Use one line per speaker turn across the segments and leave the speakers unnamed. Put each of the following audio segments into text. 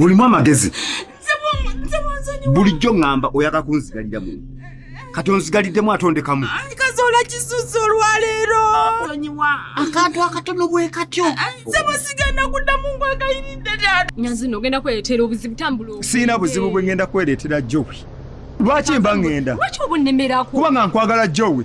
olimu amagezi bulijjo ŋŋamba oyaka kunzigalira mu kati onzigaliddemu atondekamu kazola kisusu
olwaleero sonyiwa
akantu akatono bwe katyo nsebo sigenda
kuddamu ngwagayiridde taata nyazino ogenda kwereetera
obuzibu tambula siina buzibu bwe ngenda
kwereetera jowi lwaki mba ŋŋenda lwaki oba onnemerako
kuba nga nkwagala
jowi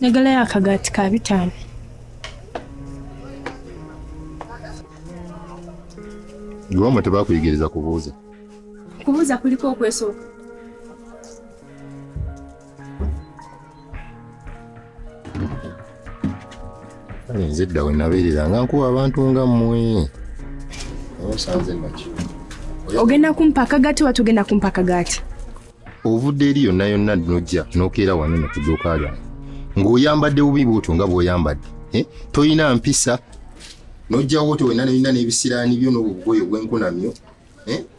njagalayo akagaati ka bitaano
iwamwe tebakuyigiriza kubuuza kubuuza
kuliko okwesooka
kale nze dda we nabeerera nga nkuba abantu nga mmwe osanze naki ogenda
kumpa akagaati oba togenda kumpa akagaati ovudde
eri yonna yonna nojja nokeera wano no ku dduuka lyange ng'oyambadde bubi bwotyo nga bw'oyambadde eh? tolina mpisa nojjawo otyo wenna nolina n'ebisiraani byo n'obwo bugoyo bwenkunamyo eh?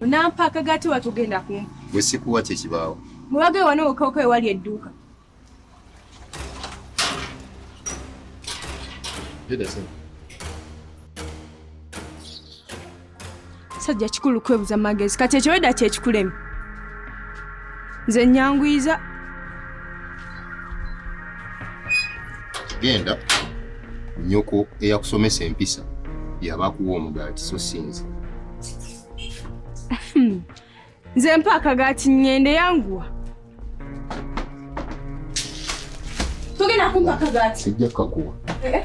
Unampa akagati watu genda kumpa. Gwe sikuwa kye
kibaawo. Muwage wano okoko
ewali edduuka. Sajja kikulu kwebuza magezi kati ekyo weda kyekikulema nze nyanguyiza
genda nyoko eyakusomesa empisa yaba akuwa omugaati so sinze
nze mpa akagaati ngende yanguwa togenda kumpa akagaati sijja kakuwa eh?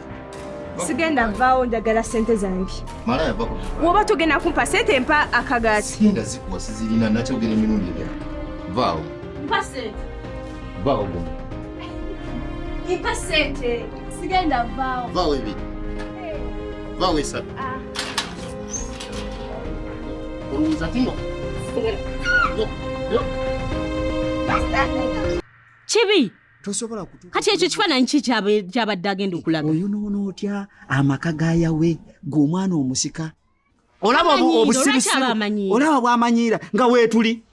sigenda vaawo njagala sente zange
woba togenda kumpa
sente mpa akagaati vaawo mpa
sente sigenda vaawo
vaawo ebi
vaawo esatu ah. olowooza
tino kibi tosobola kutuka
kati ekyo kifananyi ki
kyabadde agenda okulaga oyo noona otya
amaka ga yawe gwe omwana omusika olaba obusirusiru
olaba
bwamanyiira nga weetuli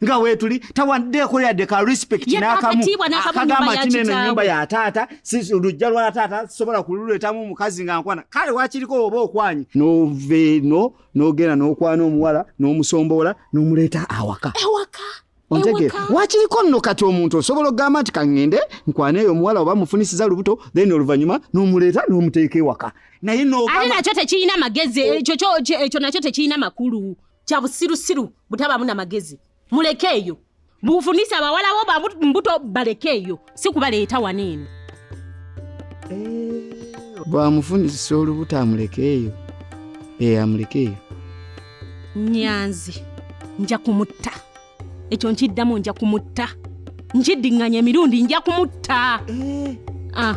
nga wetuli tawaddeeko yadde ka respect nakamu akagamba nti neno enyumba ya taata lujja lwa taata sobola kululetamu omukazi nga nkwana kale wakiriko oba okwanyi noveeno nogenda nokwana omuwala
nomusomboola
nomuleeta awaka awaka ontegere wakiriko nno kati omuntu osobola okugamba nti kaŋŋende nkwaneeyo omuwala oba mufunisiza lubuto then oluvannyuma n'omuleeta n'omuteeka ewaka naye noate nakyo tekirina
magezi oh. ekyo nakyo tekirina makulu kya busirusiru butabaamu na magezi mulekeeyo bufunisa abawala bo bambuto balekeeyo si kubaleeta wano eno
bwamufunisisa olubuto amulekeeyo ee amulekeeyo
nyanzi nja kumutta ekyo nkiddamu nja kumutta nkiddiŋŋanya emirundi nja kumutta Ah,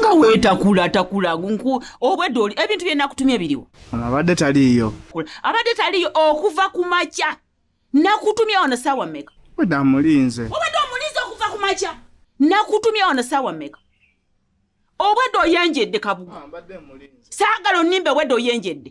nga wetakula takula nku obwedda oli ebintu byenakutumye biriwo abadde taliiyo
abadde taliiyo
okuva ku makya nakutumye ono saawa meka obadde amulinze
obadde omulinze okuva ku
makya nakutumye ono saawa meka obwedde oyenjedde kabuga saagala onimba obwedde oyenjedde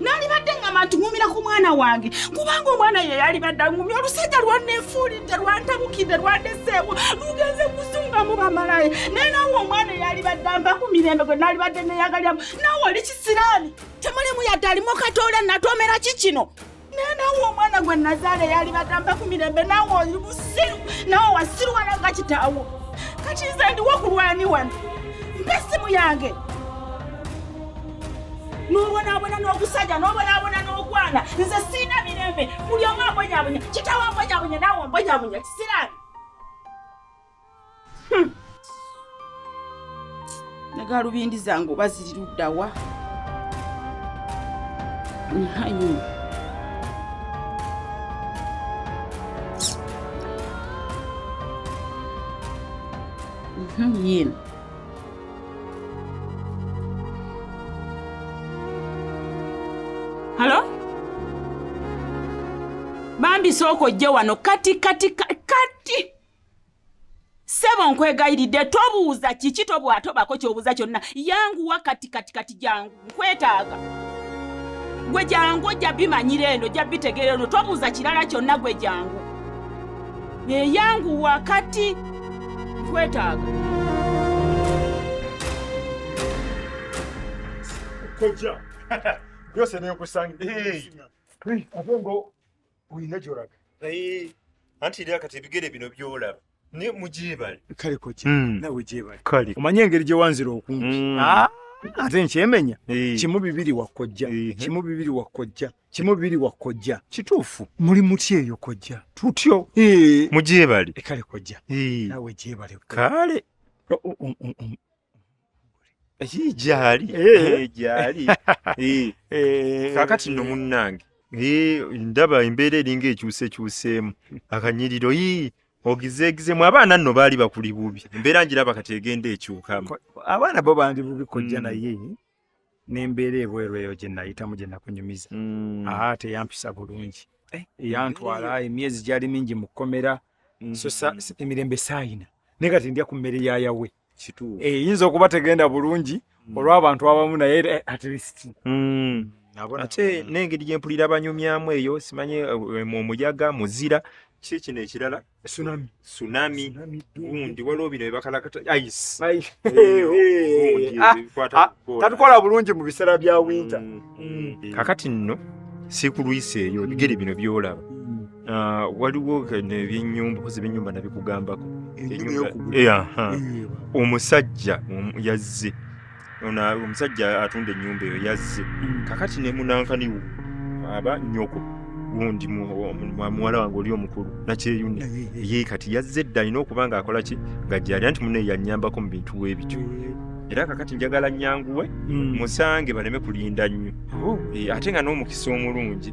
nalibadde ngamba ntuŋumira ku mwana wange kubanga omwana ye yalibadde aŋumi olusajja lwanneefuulidde lwantabukidde lwandeseewo lugenze kusunga mu bamalayo naye nawe omwana eyalibadde amba ku mirembe gwe nalibadde neyagalyamu nawe oli kisiraani temulimu yadde alimu katoola natoomera ki kino nawe omwana gwe nazaala eyali bagamba ku mirembe nawe oli busiru nawe wasiruwala nga kitaawo kati nze ndiwo kulwani wano mpa essimu yange n'obonaabona n'okusajja n'obonaabona n'okwana nze siina mirembe buli omu ambonyabonya kitaawo ambonyabonya nawe ombonyabonya kisirani Hmm. negalubindi zange oba ziri luddawa nhanyi mhm, yena halo bambi sooka ojje wano kati kati kati sebo nkwegayiridde tobuuza kiki tobwatobako kyobuuza kyonna yanguwa kati kati kati jangu nkwetaaga gwe jangu ojja bimanyira eno ojja bitegeera eno tobuuza kirala kyonna gwe jangu eyanguwa kati nkwetaaga
kojja byose nekusanga ate ngo olina gyolaga naye
anti era kati ebigere bino byolaba naye mugyebale kale kojja hmm.
nawe gyebale kale omanye engeri gye wanzira okumpi hmm. ah, ate nkyemenya eh. kimu bibiri wakojja eh. kimu bibiri wakojja kimu bibiri wakojja kituufu muli muti eyo kojja tutyo eh. mugyebale
kale kojja
nawe gyebale kale
gyali eh. gyali kakati no munnange ndaba embeera eringa ekyusekyuseemu akanyiriro yii ogizeegizemu abaana nno baali bakuli bubi embeera ngiraba kati egenda ekyukamu abaana bo bandi
bubi kojja mm. naye n'embeera ebweru eyo gye nayitamu gye nakunyumiza mm. aa teyampisa bulungi eh, yantwala emyezi gyali mingi mu kkomera mm. so emirembe saayina naye kati ndya ku mmere ya yawe kituufu eyinza eh, okuba tegenda bulungi hmm. olw'abantu abamu naye eh, at least hmm.
ate n'engeri gye mpulira banyumyamu eyo simanyi eh, omuyaga muzira ki kino ekirala tsunami tsunami gundi waliwo bino byebakalakata ice ah,
ah, tatukola bulungi mu biseera bya winter hmm.
kakati
nno
sikulwisa eyo bigere bino byolaba Ah, waliwo nebyenyumba kozi byenyumba nabikugambako omusajja yazze omusajja atunda enyumba eyo yazze mm. kakati nemunankaniwo aba nyoko gundi muwala wange oli omukulu nakyeyune ye kati yazze dda alina okuba nga akola ki nga gyali anti mune yanyambako mu bintu webityo era kakati njagala nyanguwe mm. musange baleme kulinda nnyo oh. eh, ate nga n'omukisa omulungi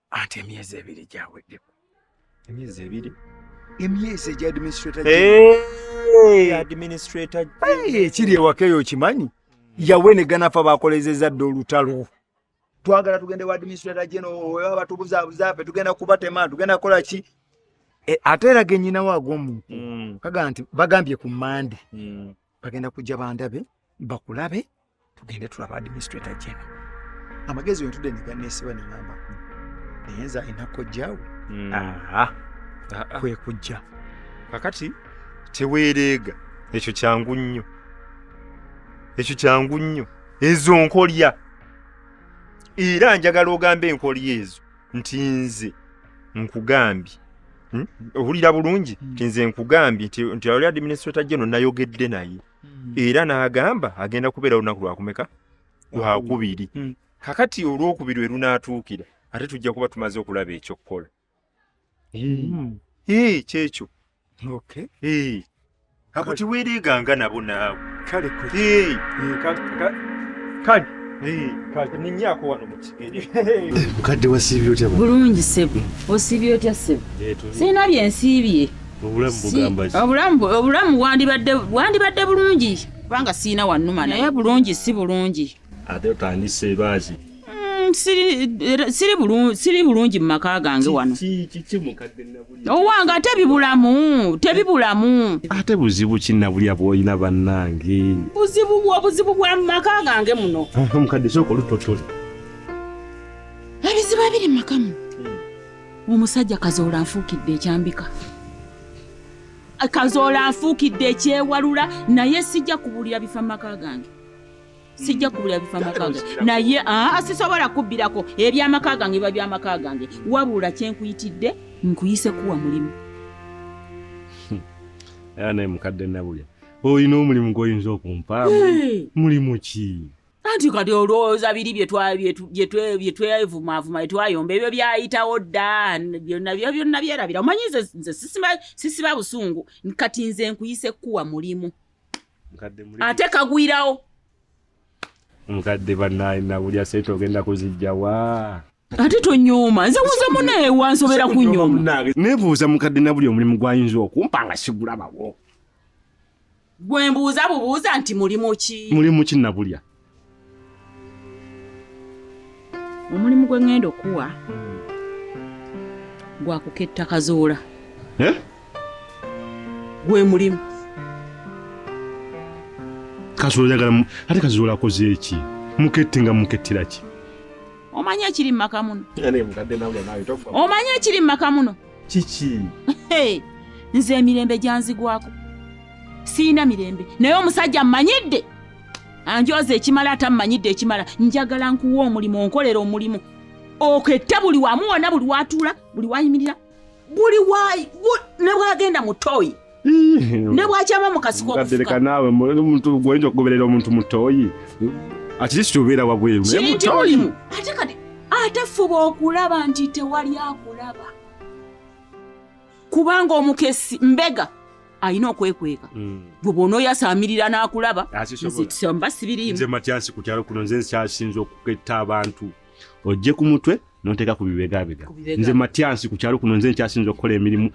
ate emyezi ebiri gyaweddeko emyezi ebiri emyezi egya administrator administrator ekiri ewaka eyo okimanyi yawe ne ganafa bakolezeza dda olutalo twagala tugende wa administrator geno weba batubuzabuza fe tugenda kubatema tugenda kukola ki e, ate era genyina waago omuntu mm. kaga nti bagambye ku mande mm. bagenda kujja bandabe bakulabe tugende tulaba administrator jena amagezi wentude neganeesiba nengamba naye nze alina kojjawe hmm. ah. ah. kwe kujja kakati
teweereega ekyo kyangu nnyo ekyo kyangu nnyo ezo nkolya era njagala ogamba enkolya ezo nti nze nkugambye hmm? owulira bulungi hmm. nti nze nkugambye nti ali administrator geno nayogedde naye hmm. era n'agamba agenda kubeera lunaku lwakumeka lwakubiri hmm. kakati olwokubiri we lunaatuukira ate tujja kuba tumaze okulaba ekyokukola hmm. kyekyo ako tiweereeganga nabo naawe kale kale ninyaako wano mukigere mukadde
wasiibye otya bulungi sebo
osiibye otya sebo sirina byensiibye obulamu bwandibadde bulungi kubanga siina wanuma naye bulungi si bulungi ate otandise
ebaazi
siri bulungi mu maka gange wano owange ate bibulamu tebibulamu ate buzibu kinabulya
bwolina bannange buzibu obuzibu
bwa mu maka gange muno mukadde sooka
olutotole
ebizibu ebiri mu makamu omusajja kazoola anfuukidde ekyambika kazoola anfuukidde ekyewalula naye sijja kubuulira bifa mu maka gange sijja kubuulira bifa mu maka gange naye aa sisobola kubbirako ebyamaka gange biba byamaka gange wabula kyenkuyitidde nkuyise kuwa mulimu
era naye mukadde nabulya olina omulimu gwoyinza okumpaamu mulimu ki anti kati
olowooza biri byetwevumaavuma etwayomba ebyo byayitawo dda byonna byo byonna byerabira omanyi nze nze sisiba busungu kati nze nkuyise kuwa mulimu ate kagwirawo
nkadde banaye nawulya sente ogenda kuzijjawa ate
tonyooma nze muze munaye wansobera kunyooma nebuuza mukadde na
buli omulimu gwayinza okumpa nga sigulabawo
gwe mbuuza bubuuza nti mulimu ki mulimu ki nabulya omulimu gwe ŋŋenda okuwa gwakuketta kazuula eh? gwe mulimu
kazuula yagala ate kazuula akoze eki mukette nga mukettira ki omanyi
ekiri mu maka muno omanyi ekiri mu maka muno kiki nze emirembe gyanzigwako siyina mirembe naye omusajja mmanyidde anjooza ekimala ate ammanyidde ekimala njagala nkuwa omulimu onkolera omulimu oketta buli wamu wona buli watuula buli wayimirira buli wayi ne bwagenda mu toyi ne bwakyama mu kasiko okufuka naawe
omuntu gwoyinza okugoberera omuntu mu toyi atirisi obeera wabweru naye mu toyi
ate kati ate fuba okulaba nti tewali akulaba kubanga omukesi mbega alina okwekweka hmm. gwe bwona oyasaamirira n'akulaba nzekisamba sibiriimu nze matyansi ku kyalo
kuno nze nkyasinza okuketta abantu ojje ku mutwe nonteeka ku bibegabega nze matyansi ku kyalo kuno nze nkyasinza okukola emirimu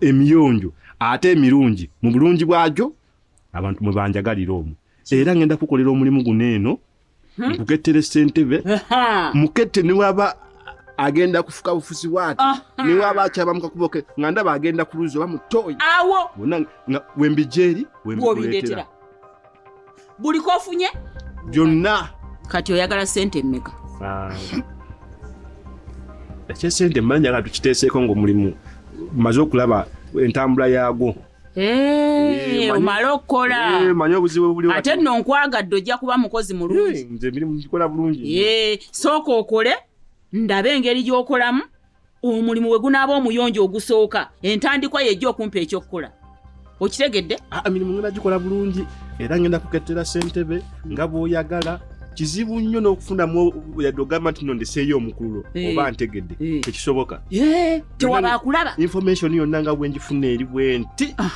emiyonjo ate emirungi mu bulungi bwagyo abantu mwe banjagalira omu era ngenda kukolera omulimu guno eno hmm? nkukettera esentebe mukette newaba agenda kufuka bufuzi bwati newaba akyaba mukakuboke nga ndaba agenda kuluzi oba mutoyi awo wembijeri
wembikuletera buli
kofunye byonna kati
oyagala sente mmeka
ekyesente mmanyi njagala tukiteeseeko ngaomulimu maze okulaba entambula yaagwo eh,
omale okukola eh,
ate nno nkwagadde
ojja kuba mukozi mulungi
eh, sooka okole
ndaba engeri gy'okolamu omulimu we gunaaba omuyonjo ogusooka entandikwa yejja okumpa ekyokukola okitegedde ah, emirimu ngenda gikola
bulungi era ngenda kukettera ssentebe nga bwoyagala kizibu nnyo n'okufunamu yadde ogamba nti no ndeseeyo omukululo eh. oba ntegedde eh. tekisoboka eh, tewaba
akulaba information yonna nga
bwenjifuna eri bwenti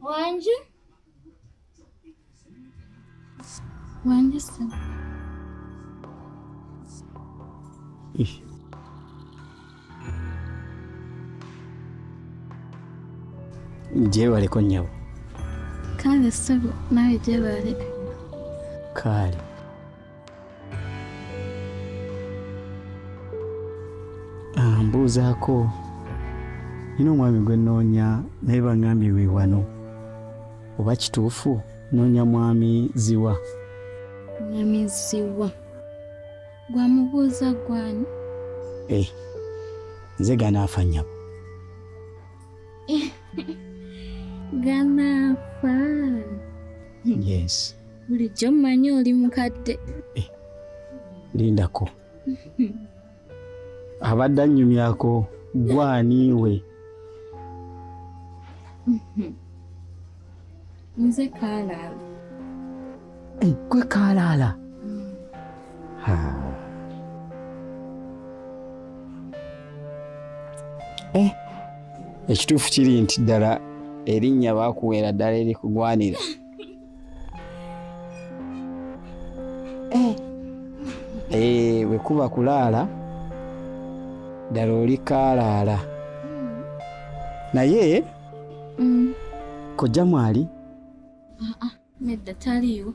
Wangi. Wangi ssebo.
Gyebaleko nnyabo. Kale
ssebo nawe gyebale.
Kale. Ah, mbuuzaako nina omwami gwe nnoonya naye bangambye we wano oba kituufu nnoonya mwami ziwa mwami
ziwa gwamubuuza gwani eh,
nze ganaafa nyabo
ganaafa
yes bulijjo
mmanyi oli mukadde eh, lindako
abadde annyumyako gwaniiwe
nze kaalaala
eh, gwe kaalaala eh, ekituufu kiri nti ddala erinnya baakuweera ddala erikugwanira eh. Eh, bwe kuba kulaala ddala oli kaalaala naye mm. kojja mwali ah, ah,
nedda taliiwo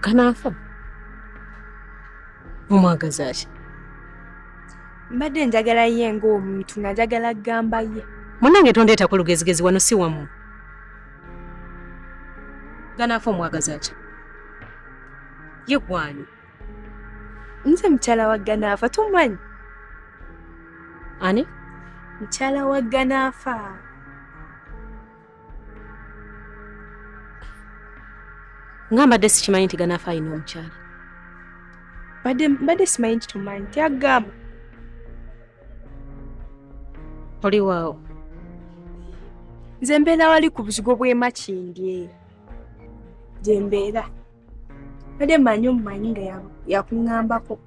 kanaafa omwagaza ki
mbadde njagala ye ng'omuntu nga njagala kugamba ye munange tondeetako
lugezigezi wano si wamu ganaafa omwagaza ki ye gwani
nze mukyala wa ganaafa tomanyi ani
mukyala wa
ganaafa
nga mbadde sikimanyi nti ganaafa alina omukyala
mbadde simanyi nti tomanyi tyagamba
oli waawo
nze mbeera wali ku buzigo bw'emakindye gye mbeera mbadde manyi omumanyi nga yakuŋambako ya